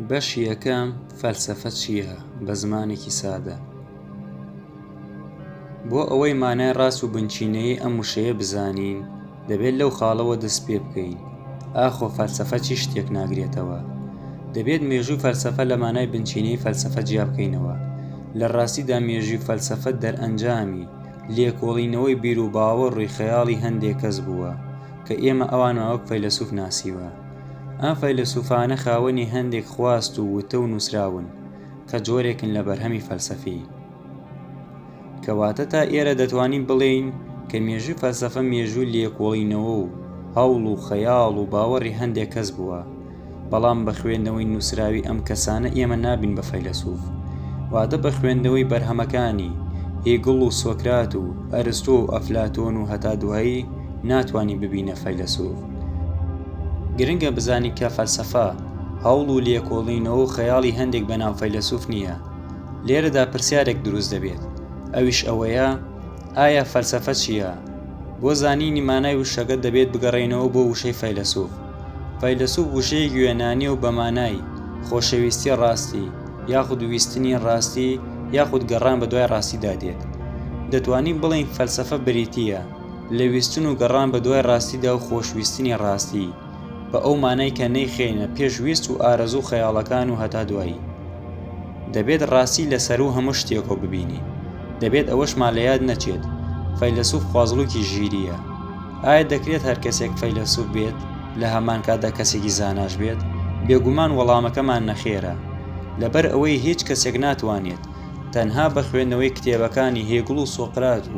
بەشی یەکەم فەلسەفە چییە بە زمانێکی سادە بۆ ئەوەی مانای ڕاست و بنچینەیە ئەم وشەیە بزانین دەبێت لەو خاڵەوە دەست پێ بکەین ئاخۆ فەلسەفە چی شتێک ناگرێتەوە دەبێت مێژووی فەلسەفە لە مانای بنچینەی فەلسەفە جیا بکەینەوە لە ڕاستیدا مێژووی فەلسەفە دەرئەنجامی لێکۆڵینەوەی بیر و باوەڕووی خەیاڵی هەندێک کەس بووە کە ئێمە ئەوانمان وەک فەیلەسوف ناسیوە ئەم فەیلەسوفانە خاوەنی هەندێک خواست و وتە و نووسراون کە جۆرێکن لە بەرهەمی فەلسەفی. کەواتە تا ئێرە دەتوانین بڵێین کە مێژووی فەلسەفە مێژووی لێکۆڵینەوە و هەوڵ و خەیاڵ و باوەڕی هەندێک کەس بووە، بەڵام بە خوێندنەوەی نووسراوی ئەم کەسانە ئێمە نابین بە فەیلەسوف، واتە بە خوێندنەوەی بەرهەمەکانی، هیگڵ و سۆکرات و ئەرستۆ و ئەفلاتۆن و هەتا دوایی، ناتوانین ببینە فەیلەسوف. گرنگە بزانین کە فەلسەفە، هەوڵ و لێکۆڵینەوە و خەیاڵی هەندێک بەناو فەیلەسوف نییە. لێرەدا پرسیارێک دروست دەبێت، ئەویش ئەوەیە، ئایا فەلسەفە چییە؟ بۆ زانینی مانای وشەکە دەبێت بگەڕێینەوە بۆ وشەی فەیلەسوف. فەیلەسوف وشەیەکی یۆنانییە و بە مانای، خۆشەویستی ڕاستی، یاخود ویستنی ڕاستی، یاخود گەڕان بەدوای ڕاستیدا دێت. دەتوانین بڵێین فەلسەفە بریتییە. لە ویستن و گەڕان بە دوای ڕاستیدا و خۆشویستنی ڕاستی، بە ئەو مانای کە نەیخەینە پێش ویست و ئارەزوو و خەیاڵەکان و هەتا دوایی. دەبێت ڕاستی لە سەروو هەموو شتێکەوە ببینین. دەبێت ئەوەشمان لە یاد نەچێت، فەیلەسووف خوازڵووکی ژیرییە. ئایا دەکرێت هەر کەسێک فەیلەسووف بێت، لە هەمان کاتدا کەسێکی زاناش بێت؟ بێگومان وەڵامەکەمان نەخێرە. لەبەر ئەوەی هیچ کەسێک ناتوانێت، تەنها بە خوێندنەوەی کتێبەکانی هێگڵ و سۆقرات و،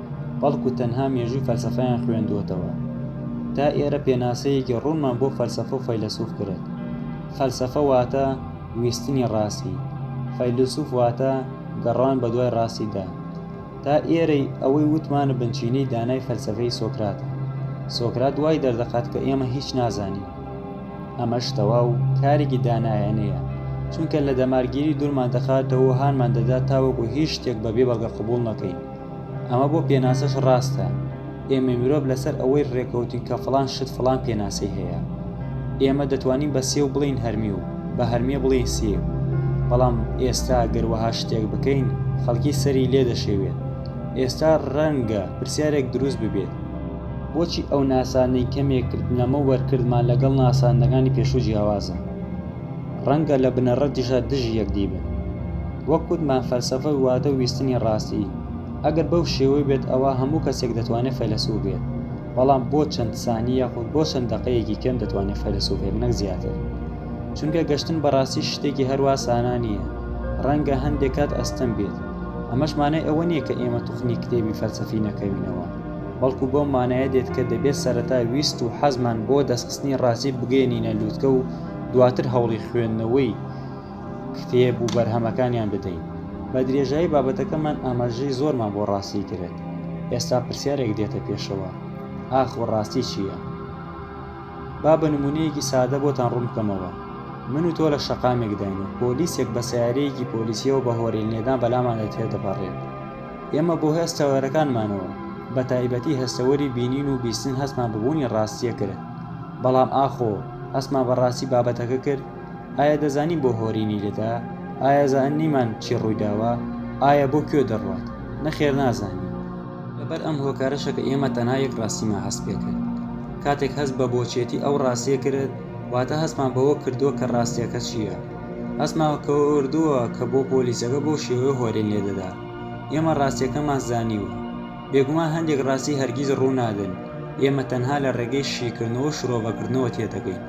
بەڵکو تەنها مێژووی فەلسەفەیان خوێندووەتەوە. تا ئێرە پێناسەیەکی ڕوونمان بۆ فەلسەفە و فەیلەسوف کرد. فەلسەفە واتە ویستنی ڕاستی، فەیلەسوف واتە گەڕان بە دوای ڕاستیدا. تا ئێرەی ئەوەی وتمان بنچینەی دانای فەلسەفەی سۆکراتە. سۆکرات وای دەردەخات کە ئێمە هیچ نازانین. ئەمەش تەواو کارێکی دانایانەیە، چونکە لە دەمارگیری دوورمان دەخاتەوە و هانمان دەدات تاوەکو هیچ شتێک بەبێ بەڵگە قبوڵ نەکەین. ئەمە بۆ پێناسەش ڕاستە، ئێمەی مرۆڤ لەسەر ئەوەی ڕێکەوتین کە فڵان شت فڵان پێناسەی هەیە. ئێمە دەتوانین بە سێو بڵێین هەرمی و بە هەرمێ بڵێین سێو. بەڵام ئێستا گەر وەها شتێک بکەین خەڵکی سەری لێ دەشێوێت. ئێستا ڕەنگە پرسیارێک دروست ببێت. بۆچی ئەو ناسانەی کەمێک لەمەوبەر کردمان لەگەڵ ناساندنەکانی پێشوو جیاوازە؟ ڕەنگە لە بنەڕەتیشا دژی یەکدی بن. وەک وتمان فەلسەفە واتە ویستنی ڕاستی. ئەگەر بەو شێوەی بێت ئەوا هەموو کەسێک دەتوانێت فەیلەسوف بێت. بەڵام بۆ چەند سانی یاخود بۆ چەند دەقەیەکی کەم دەتوانێت فەیلەسوف بێت نەک زیاتر. چونکە گەشتن بە ڕاستی شتێکی هەروا سانا نییە. ڕەنگە هەندێک کات ئەستەم بێت. ئەمەش مانای ئەوە نییە کە ئێمە توخنی کتێبی فەلسەفی نەکەوینەوە. بەڵکو بەو مانایە دێت کە دەبێت سەرەتا ویست و حەزمان بۆ دەستخستنی ڕاستی بگەیەنینە لوتکە و دواتر هەوڵی خوێندنەوەی کتێب و بەرهەمەکانیان بدەین بە درێژایی بابەتەکەمان ئاماژەی زۆرمان بۆ ڕاستی کرێت ئێستا پرسیارێک دێتە پێشەوە ئاخ و ڕاستی چییە؟ با بە نمونەیەکی سادە بۆتان ڕوون بکەمەوە من و تۆ لە شەقامێکداین و پۆلیسێک بە سیارەیەکی پۆلیسیەوە بە هۆرین لێدان بەلامان دەتێ دەپەڕێت ئێمە بۆ هەست تەوەرەکانمانەوە بە تایبەتی هەستەوەری بینین و بیستن هەستمان ببوونی ڕاستیە کرد بەڵام ئاخۆ هەستمان بە ڕاستی بابەتەکە کرد، ئایا دەزانین بۆ هۆری نیلدا؟ ئایا زانیمان چی ڕوویداوە؟ ئایا بۆ کوێ دەڕوات؟ نەخێر نازانین. لەبەر ئەم هۆکارەشە کە ئێمە تەنها یەک ڕاستیمان هەست پێکرد. کاتێک هەست بە بۆچیەتی ئەو ڕاستیە کرد، واتە هەستمان بەوە کردووە کە ڕاستیەکە چیە. هەستمان کردووە کە بۆ پۆلیسەکە بەو شێوەیە هۆرین لێدەدا. ئێمە ڕاستیەکەمان زانیوە. بێگومان هەندێک ڕاستی هەرگیز ڕوو نادەن، ئێمە تەنها لە ڕێگەی شیکردنەوە و شرۆڤەکردنەوە تێدەگەین،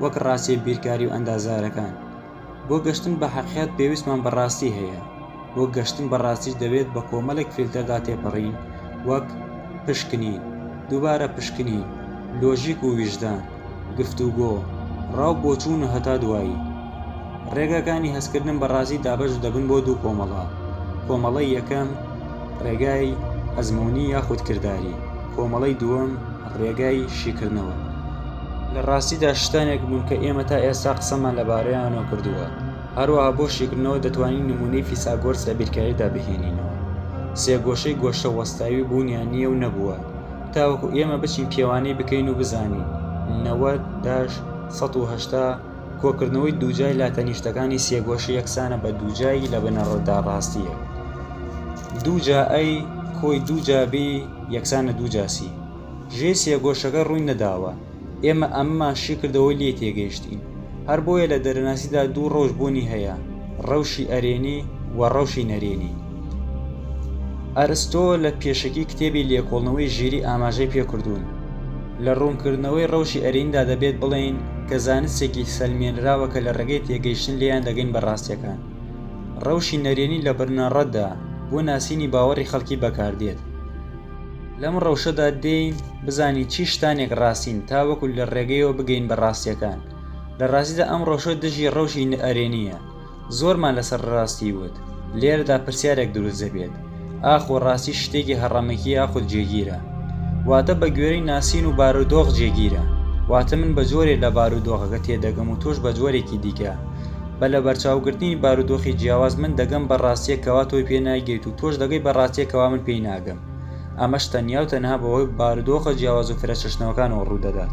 وەک ڕاستییە بیرکاری و ئەندازارەکان. بۆ گەشتن بە هەقیقەت پێویستمان بە ڕاستی هەیە، بۆ گەشتن بە ڕاستیش دەبێت بە کۆمەڵێک فیلتەردا تێپەڕین، وەک، پشکنین، دووبارە پشکنین، لۆژیک و ویژدان. گفتوگۆ، ڕا و بۆچوون و هەتا دوایی. ڕێگاکانی هەستکردن بە ڕاستی دابەش دەبن بۆ دوو کۆمەڵە، کۆمەڵەی یەکەم، ڕێگای ئەزموونی یاخود کرداری، کۆمەڵەی دووەم، ڕێگای شیکردنەوە. لە ڕاستیدا شتانێک بوون کە ئێمە تا ئێستا قسەمان لەبارەیانەوە کردووە. هەروەها بۆ شیکردنەوە دەتوانین نموونەی فیساگۆرس لە بیرکاریدا بهێنینەوە. سێگۆشەی گۆشە وەستاوی بوونیان نییە و نەبووە. تاوەکو ئێمە بچین پێوانەی بکەین و بزانین نەوەد داش سەد و هەشتا کۆکردنەوەی دووجای لاتەنیشتەکانی سێگۆشە یەکسانە بە دووجای لە بنەڕەتدا ڕاستییەک دووجا ئەی کۆی دووجا بی یەکسانە دووجاسی ژێ سێگۆشەکە ڕووی نەداوە ئێمە ئەمەمان شیکردەوەو لێی تێگەیشتین هەر بۆیە لە دەرەناسیدا دوو ڕەوش بوونی هەیە ڕەوشی ئەرێنی و ڕەوشی نەرێنی ئەرستۆ لە پێشەکی کتێبی لێکۆڵنەوەی ژیری ئاماژەی پێکردوون لە ڕوونکردنەوەی ڕەوشی ئەریندا دەبێت بڵێین کە زانستێکی سەلمێنراوە کە لە ڕێگەی تێگەیشتن لێیان دەگەین بە ڕاستیەکان ڕەوشی نەرێنی لە بنەڕەتدا بۆ ناسینی باوەڕی خەڵکی بەکاردێت لەم ڕەوشەدا دێین بزانین چی شتانێک ڕاستین تاوەکو لە ڕێگەیەوە بگەین بە ڕاستیەکان لە ڕاستیدا ئەم ڕەوشە دژی ڕەوشی نەئەرێنیە زۆرمان لەسەر ڕاستی وت لێرەدا پرسیارێک دروست دەبێت ئاخۆ ڕاستی شتێکی هەڕەمەکی یاخود جێگیرە واتە بە گوێرەی ناسین و بارودۆخ جێگیرە واتە من بە جۆرێ لە بارودۆخەکە تێدەگەم و تۆش بە جۆرێکی دیکە بە لە بەرچاوگرتنی بارودۆخی جیاواز من دەگەم بە ڕاستیەکەوا تۆی پێ ناگەیت و تۆش دەگەی بە ڕاستیەکەوا من پێی ناگەم ئەمەش تەنیا و تەنها بەهۆی بارودۆخە جیاواز و فرەچەشنەوەکانەوە ڕوودەدات.